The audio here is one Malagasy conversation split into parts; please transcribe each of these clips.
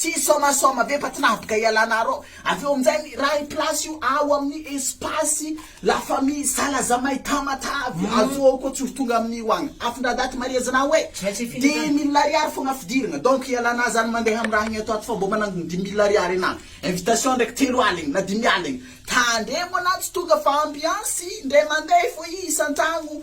Tsy isaomasaoma ve fa tsy nahabiga ialana arô avy eo aminjay miray place io ao amin'ny espace la famille salazamay tamatave azo ao koa tsy ho tonga amin'io agny afin-dradati maria zna hoe dimy mille ariary fogna fidiragna donc ialana zany mandeha am raha agny ato ato fa mbô manangony dimy mille ariary ana invitation ndraiky telo aligny na dimy aligny tandremo ana tsy tonga fa ambiance indray mandeha fô isan-tragno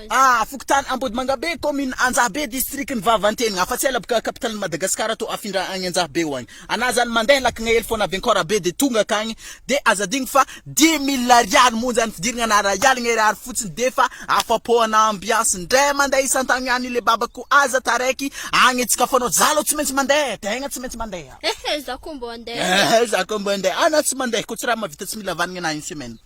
A, fokontany Ambodimangabe, kaominina Anjahabe, distrikan'i Vavantenina, afa-tsela boka capitale n'i Madagasikara toa afindra agny Anjahabe ho agny. Anà izany mandeha lakagna hely foana avy Ankorabe dia tonga akagny, dia aza adino fa dimy mille ariary monja ny fidiragna na ray aligna ariary fotsiny dia efa afa-po anà ambiansy indray mandeha isan-tagny agny le baba ko aza taraiky agny tsy ka fanao za alou tsy maintsy mandeha, tegna tsy maintsy mandeha. Ehe za ko mbô andeha. Ehe za ko mbô andeha, anà tsy mandeha ko tsy raha mahavita tsy mila vanigny anà une semaine.